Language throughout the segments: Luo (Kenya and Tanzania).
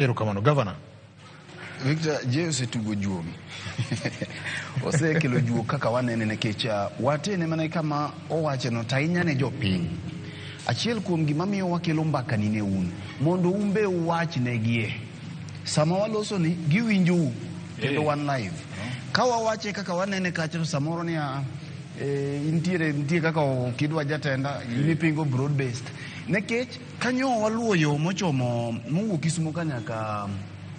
Erokamano gavana. Victor, je osetugo juogi osekelo juok kaka wanene nikech uh, watene mana kama owacheno to ahinya ne jopiny achiel kuom gima miyo wakelo mbakani ne un mondo un be uwach negie sama waloso ni giwinjou kendo eh. wan live ka wawache kaka wanene kacha to samoro ni ah, eh, intiere nitie kaka okidwa jatenda eh. inipingo broad based nekech Kanyo waluwo yo mochomo mowuok Kisumo ka nyaka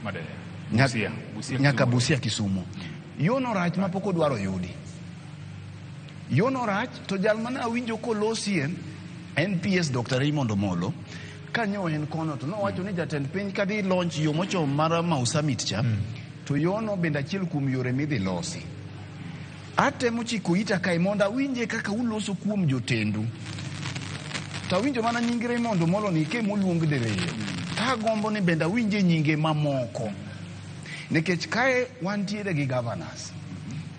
Madera. Busia. Busia. Nyaka Busia Kisumo. Yono rach ma pok odwaro yudi. Yono rach to jal mana awinjo kolosie en PS Dr. Raymond Omolo kanyo en kono to nowacho ni jatend piny kadhi launch yo mochomo mar Mau Summit cha mm. to yono bende achiel kuom yore midhi losi. Atemo chiko ita kae mondo awinje kaka uloso kuom jotendu. To awinjo mana nying Raymond Omolo ni ke moluong diriyo. Agombo ni bende awinje nyinge mamoko. Nikech kae wantiere gi governors.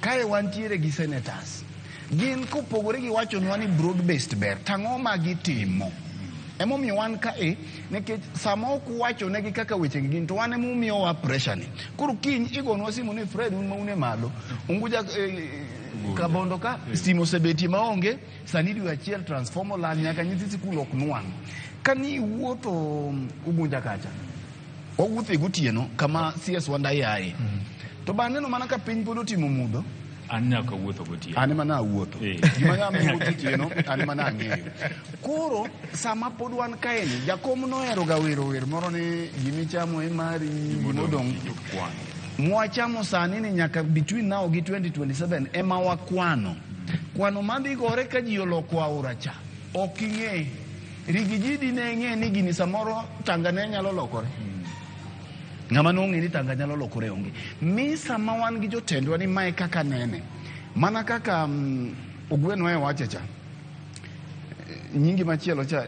Kae wantiere gi senators. Gin kopogore gi wachonwa ni broad based ber, tang'o ma gitimo? Emomiyo wan kae nikech sama ok wachonegi kaka wechegi gin to wane mumiyowa presha ni koro kiny igonwa simu ni fred un maune malo unguja eh, kabondo ka eh. simo sebetie maonge sani dwe achiel transformer lal nyaka nyithi sikul ok nwang' ka ni iwuotho um, ugunja kacha wawuothe gotieno kama cs wandayaye mm. to bang'eno mana ka piny pod otimo mudho an nyaka wuotho gotieno an ema nawuotho eh. gima nyama wuotho tieno an ema nang'eyo koro sama pod wan kaeni jakom nohero ga wero wer moro ni gimichamo emari gimodong' mwachamo sani ni nyaka between now gi 2027 ema wakwano kwano madhi gore ka ji oloko aora cha ok ing'e rigijidi ne ng'e ni gini samoro tangane nyalo lokore Ng'ama nong'e ni tanga nyalo lokore onge. Mi sama wan gi jotendwa ni mae kaka nene, mana kaka um, mm, Ogweno e wache cha, nyingi machielo cha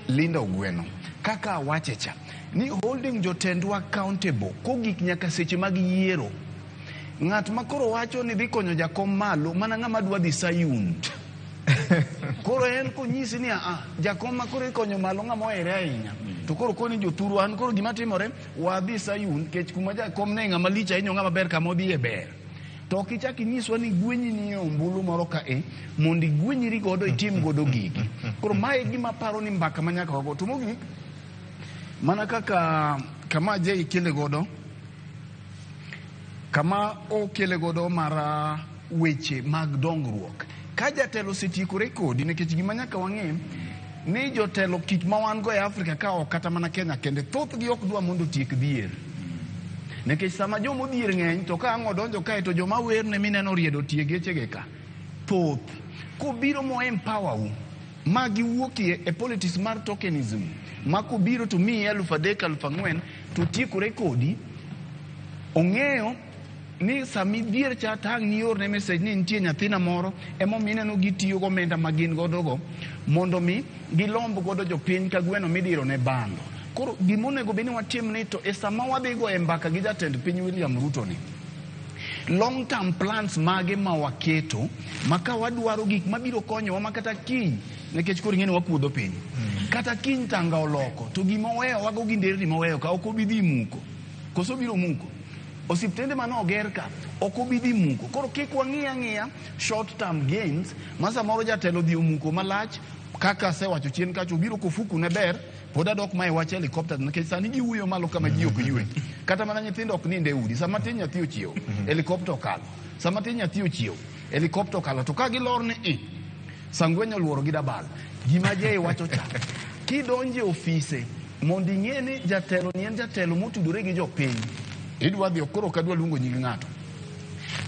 Linda Ogweno, kaka wache cha ni holding jotendwa accountable kogik nyaka seche mag yiero Ng'at ma koro wacho ni dhi konyo jakom malo mana ng'ama dwa dhi Sayun. koro en konyisi ni aa, jakom ma koro ikonyo malo ng'ama ohere ahinya. To koro koni joturu an koro gima timore wadhi Sayun kech kuma jakom ne ng'ama lich ahinya ng'ama ber kama odhi e ber. To ok ichak inyiswa ni gwenyi ni e ombulu moro ka e mondo igwenyri godo itim godo gigi. Koro mae gima paro ni mbaka ma nyaka wago. To mogik mana kaka kama je ikele godo kama okele godo mar ah, weche mag dongruok. Ka jatelo osetiekore kodi, nikech gima nyaka wang'e ni jotelo kik ma wan go e Afrika ka ok kata mana Kenya kende, thothgi ok dwa mondo otiek dhier. Nikech sama joma odhier ng'eny to ka ang' odonjo kae to joma werne mineno riedo tie gechege ka thoth. Kobiro mo empower u ma giwuokie e politics mar tokenism ma kobiro to miyi elfu adek elfu ang'wen To tiekore kodi, ong'eyo ni sama idhier cha tang' ni iorne message ni nitie nyathina moro emomiyo ineno gitiyo gi omenda ma gin godogo mondo mi gilomb godo jopiny ka gweno midiro ne bando koro gima onego bed ni watim ni to e sama wadhi go e mbaka gi jatend piny William Ruto ni long term plans mage ma waketo ma ka wadwaro gik mabiro konyowa ma kata kiny nikech koro ing'e ni wakuodho piny kata kiny tanga oloko to gima oweyo wago gi nderni moweyo ka ok obi dhi muko koso biro muko osiptende mane oger ka ok obi dhi muko koro kik wang'iya ang'iya short term gains ma samoro jatelo dhi omuko malach kaka asewacho chien kacho obiro kofuku ne ber pod adok ma e wach helicopter nikech sani giwuoyo malo kama ji ok ywe kata mana nyithindo ok ninde udi sama tin nyathi ochiewo helicopter okalo sama tin nyathi ochiewo helicopter okalo to ka gilor ni i Sangwenyo luoro gi dabal. Gima jeye wacho cha. Kidonje ofise mondo ing'e ni jatelo ni en jatelo motudore gi jopiny. Idwa dhi okoro ka dwa luongo nying ng'ato.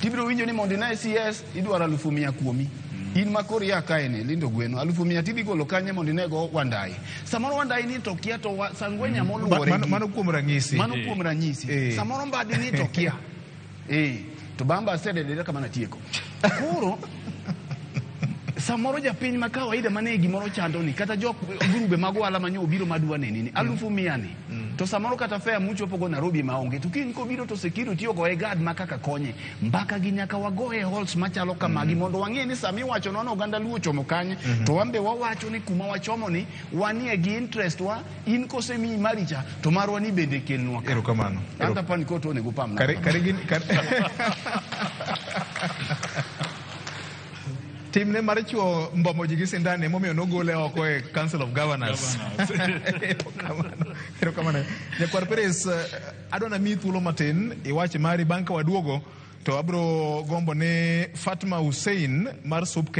Tibiro winjo ni mondo ine CS idwaro alufu mia kuomi. Mm. In ma kori ya kae ni lindo gweno alufu mia tidhi golo kanye mondo inego wandai. Samoro wandai ni to kia to sangwenya mm. moluore. Mano kuom ranyisi. Mano kuom ranyisi. Eh. Samoro mbadi ni to kia. Eh, to bang' bas tedelera kama natieko. Koro samoro japiny ma kawaida mane gimoro chando ni kata jok grube mag ohala ma nyo obiro madwa neni ni mm. alufu mia ni mm. to samoro kata fea muchopo go Nairobi ma onge to kiny kobiro to sekiru tiyo go e gad ma kaka konye mbaka gi nyaka wago e halls machalo kamagi mm. mondo wang'e ni sami wacho nono oganda luo chomo kanye mm-hmm. to wambe wawacho ni kuma wachomo ni wanie gi interest wa in kose mi maricha to marwa ni bende kelnwa ka. Erokamano. Anta pan ko to onego pamna. Kare kare gin kare. Timne mar chuo mbomo ji gi sindan e momiyo nogole oko e Council of Governors. Erokamano. Erokamano. Nyakwar Peres, eh, adwa na mi thuolo matin iwach mari bang' ka waduogo to abro gombo ne Fatma Hussein mar Subke